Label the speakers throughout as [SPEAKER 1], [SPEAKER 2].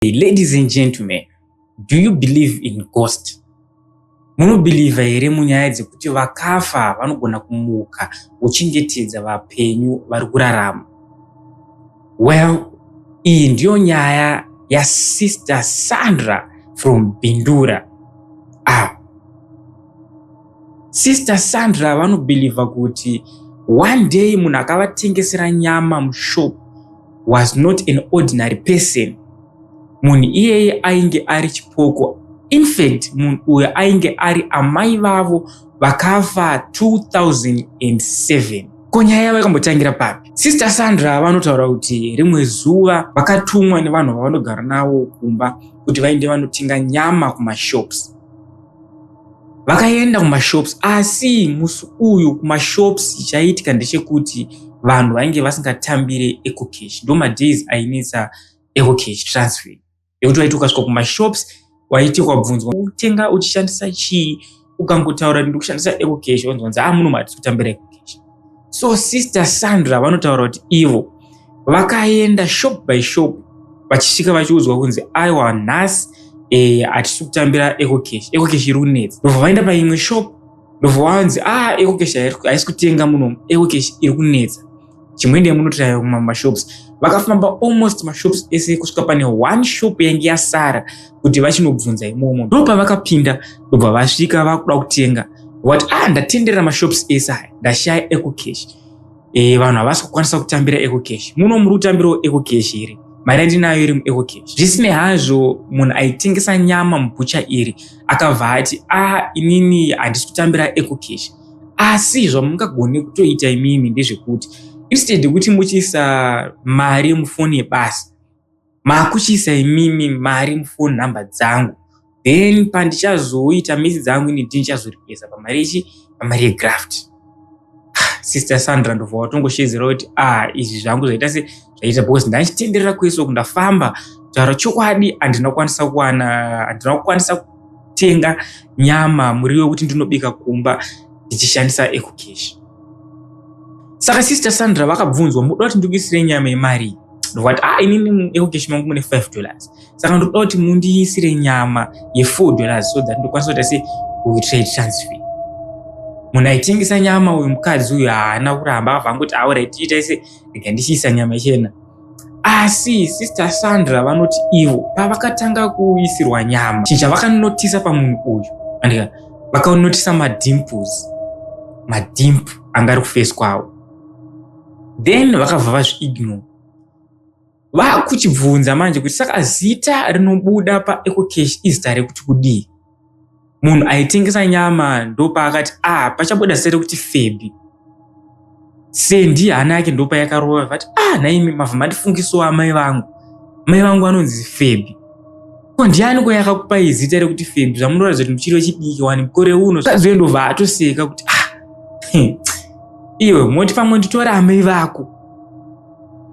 [SPEAKER 1] Hey, ladies and gentlemen, do you believe in ghost? Munobhilivha here munyaya dzekuti vakafa vanogona kumuka uchingetedza vapenyu vari kurarama? Well, iyi ndiyo nyaya yasister Sandra from Bindura. Ah. Sister Sandra vanobhilivha kuti one day munhu akavatengesera nyama mushop was not an ordinary person munhu iyeye ainge ari chipoko infact munhu uyo ainge ari amai vavo vakafa 2007 ko nyaya yavo yakambotangira papi sister sandra vanotaura kuti rimwe zuva vakatumwa nevanhu vavanogara navo kumba kuti vainde vanotenga nyama kumashops vakaenda kumashops asi musi uyu kumashops chaiitika ndechekuti vanhu vainge vasingatambire ecocash ndo madays ainetsa ecocash transfer yekuti waiti ukasvika kumashops waiti ukabvunzwa utenga uchishandisa chii ukangotaura kuti ndikushandisa ecocash onzwanzi a ah, muno matiri kutambira ecocash so sister sandra vanotaura kuti ivo vakaenda shop by shop vachisvika vachiudzwa kunzi aiwa nhasi e, hatisi kutambira ecocash ecocash iri kunetsa ndobva vaenda paimwe shop ndobva vanzi ah ecocash haisi kutenga munomu ecocash iri kunetsa chimwende munototaura kumamashops vakafamba almost mashops ese kusvika pane one shop yainge yasara kuti vachinobvunza imomo ndopavakapinda ndobva vasvika vakuda kutenga wat ah ndatendera mashops ese aya ndashaya ecocash e, vanhu havasi kukwanisa kutambira ecocash muno muri kutambirawo ecocash here mari yandinayo iri muecocash zvisinei hazvo munhu aitengesa nyama mubhucha iri akabva ati ah inini handisi kutambira ecocash asi zvamungagone kutoita imimi ndezvekuti instead yekuti muchiisa mari yemufoni yebasa makuchiisa imimi mari mufoni nhamba dzangu then pandichazoita misi dzangu ini ndinichazoripesa pamari yechi pamari yegraft ah, sister sandra ndobva watongoshedzera kuti ah izvi zvangu zvaita se zvaita because ndaichitenderera kwese uku ndafamba taura chokwadi handina kukwanisa kuwana handina kukwanisa kutenga nyama muriwo wekuti ndinobika kumba ndichishandisa ecocash saka sister sandra vakabvunzwa muda kuti ndikuisire nyama yemari ndovati ah inini ecocash mangu mune 5 dollars saka ndoda kuti mundiisire nyama ye4 dollars so that ndokwanisa kuita se kutrade transfer munhu aitengesa nyama uyu mukadzi uyu haana kuramba akabva angoti aura tiitaise rega ndichiisa nyama chena asi sister sandra vanoti ivo pavakatanga kuisirwa nyama chinhu chavakanotisa pamunhu uyu andika vakanotisa madimples madimp anga ari kufesi kwavo then vakabva vazviignore vakuchibvunza manje kuti saka zita rinobuda paecocash izita rekuti kudii munhu aitengesa nyama ndopaakati ah pachabuda sere kuti febi sendi hana yake ndopayakarova vati ah naimi mavhu mandifungisawo amai vangu mai vangu anonzi febi ko ndiani ko yakakupai zita rekuti febi zvamunoratidza kuti muchiri wechidiki wani mukore uno zvazoe ndobva atoseka kuti ah iwe moti pamwe nditora amai vako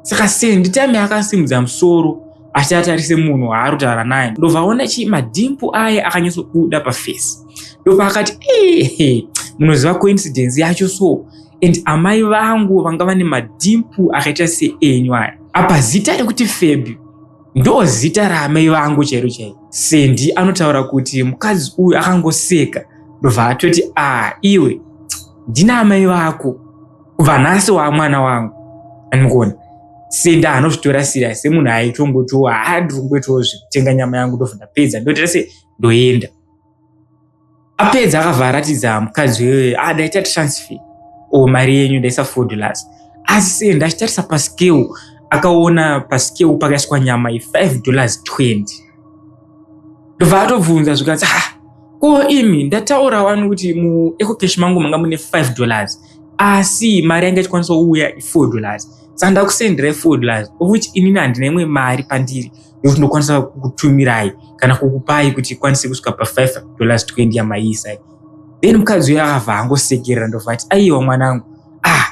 [SPEAKER 1] saka sendi time akasimudza musoro asi atarise munhu waari kutaura naye ndovaona chii madhimpu aye akanyatsobuda pafesi ndopaakati ehe munoziva coincidence yacho so and amai vangu vanga vane madhimpu akaita seenyu aya apa zita rekuti febi ndo zita raamai vangu chairo chairo sendi anotaura kuti mukadzi uyu akangoseka ndobva atoti a ah, iwe ndina amai vako kubva nhasi wamwana wangu anikuona senda anozvitora serious semunhu aitongotiwo haa ndiri kungoitawo zvekutenga nyama yangu ndobva ndapedza ndoita se ndoenda apedza akabva aratidza mukadzi wee ah ndaita transfer o mari yenyu ndaisa ford las asi se ndachitarisa pascale akaona pascale pakaiswa nyama ye5 dollars 20 ndobva atobvunza zvikanzi ha ko imi ndataura wani kuti muecocash mangu manga mune 5 dollars asi mari yanga ichikwanisa kuuya i4 dollars saka ndakusenderai 4 dollars of which inini handina imwe mari pandiri yokuti ndokwanisa kukutumirai kana kukupai kuti ikwanise kusvika pa5 dollars 20 yamaiisai then mukadzi uyo akabva angosekerera ndobva ati aiwa mwanangu ah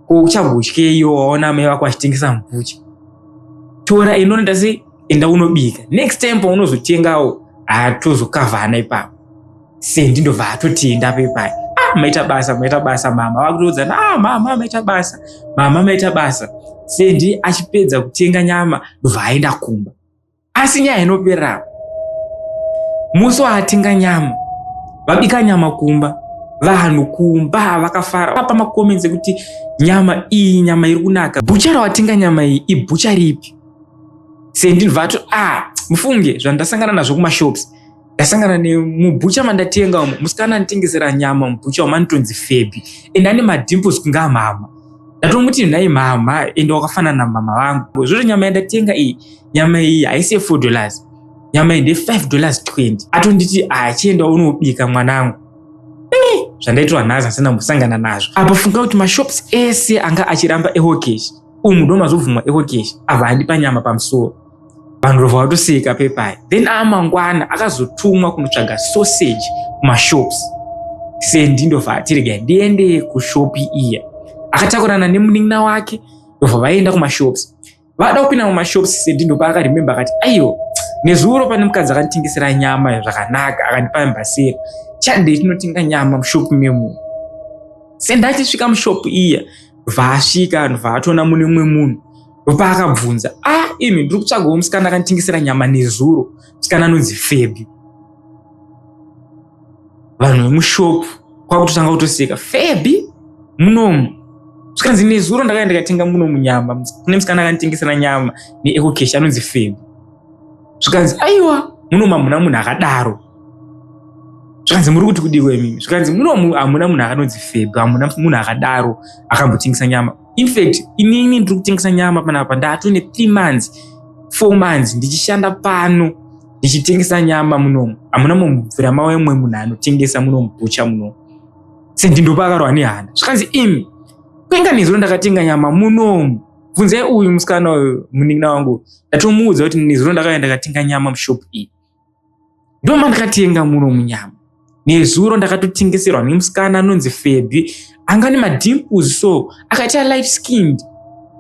[SPEAKER 1] ko uchambotyeiwo waona mai vako vachitengesa mbuchi tora inonda sei enda unobika next time paunozotengawo atozokavhana ipapo sendi ndobva atotenda pepai ah, maita basa maita basa mama vakutoudzana ah, mama maita basa mama maita basa sendi achipedza kutenga nyama ndobva aenda kumba asi nyaya inoperera musi waatenga nyama vabika nyama kumba vanhu kumba vakafara vapa makomenzi ekuti nyama iyi nyama iri kunaka bhucha rawatenga nyama iyi ibhucha ripi sendi ndibva ato ah mufunge zvandasangana nazvo kumashops ndasangana nemubhucha mandatenga umo musikana anitengesera nyama mubhucha umo anotonzi febi and ane madimples kunga mama ndatomuti nhai mama and wakafanana na mama vangu zvoto nyama yandatenga iyi nyama iyi haisi yefour dollars nyama iyi ndefive dollars twenty atonditi achienda ah, unobika mwanangu zvandaitwa nhasi asina kumbosangana nazvo apo funga kuti mashops ese anga achiramba ehokeshi umu ndomazobvumwa ekokeshi ava handi panyama pamusoro vanhu rova vatoseka pepai then aamangwana akazotumwa kunotsvaga sausage kumashops sendi ndova atirega ndiende kushopi iya akatakurana nemunin'ina wake ndova vaienda kumashops vada kupinda mumashops sendi ndopa akarememba akati aiyo nezuro pane mukadzi akanditengesera nyama zvakanaka akandipa mbasera chadei tinotenga nyama mushopi memunhu sendatisvika mushopi iya vaasvika vanhu vaatoona mune umwe munhu ndopaakabvunza a ah, imi ndiri kutsvagawo musikana akanditingisira nyama nezuro musikana anonzi febi vanhu vemushopu kwakutotanga kutoseka febi munomu zvikanzi nezuro ndakaenda ndikatenga munomu nyama kune musikana akanditingisira nyama neecocash anonzi febi zvikanzi aiwa muno mamuna munhu akadaro zvikanzi muri kuti kudiwa imimi zvikanzi muno hamuna munhu akanonzi feb hamuna munhu akadaro akambotengesa nyama infact inini ndiri kutengesa nyama panapa ndato ne three months four months ndichishanda pano ndichitengesa nyama munomu hamuna mumubvira mawe mwe munhu anotengesa munomubucha munomu sendindopa akarohwa nehana zvikanzi imi kwenga nezuro ndakatenga nyama munomu bvunzai uyu musikana uyu munin'ina wangu ndatomuudza kuti nezuro ndakaenda katenga nyama mushop iyi ndoma ndakatenga muno munyama nezuro ndakatotengeserwa nemusikana anonzi febhi anga ne madimples so akaita light skinned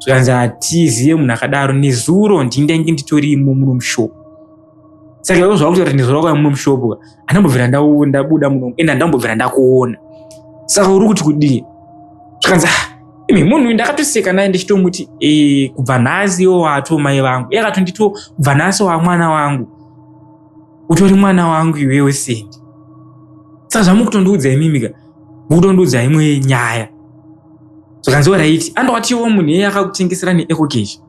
[SPEAKER 1] zvikanzi hatizive munhu akadaro nezuro ndindainge nditorimo muno mushop saka ivo zvakuti kuti ndizora kwai mumwe mushopo andambobvira ndabuda muno ende andambobvira ndakuona saka uri kuti kudii zvikanzi ah, imi munhu ndakatoseka naye ndichitomuti eh, kubva nhasi iwo wato mai vangu iye akatondito kubva nhasi wamwana wangu utori mwana wangu iwewe sendi saka zvamukutondiudza imimika mukutondiudza imwe nyaya zvakanzi oraiti andowatiwo munhu iye akakutengesera neecocation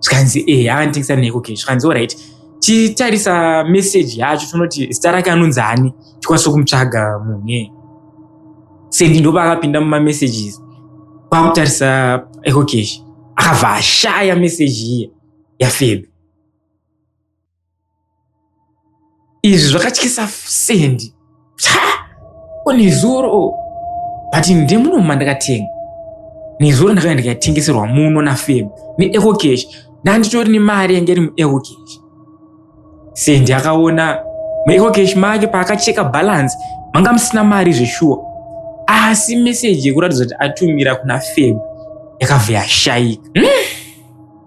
[SPEAKER 1] zvikanzi e eh, akanditengesa neko ke zvikanzi orit titarisa meseji yacho tinoti zita rake anonzi ani tikwanise kumutsvaga munhu sendi ndoba akapinda mumamessages kwakutarisa ecocash akabva ashaya meseji iye yafebe izvi zvakatyisa sendi nezuro but ndemuno mandakatenga nezuro ndakauya ndikatengeserwa muno nafem neecocash ndanditori nemari yange iri muecocash sendi akaona muecocash make paakacheka balance manga musina mari zveshuwa asi meseji yekuratidza kuti atumira kuna feb yakabva yashaika hmm?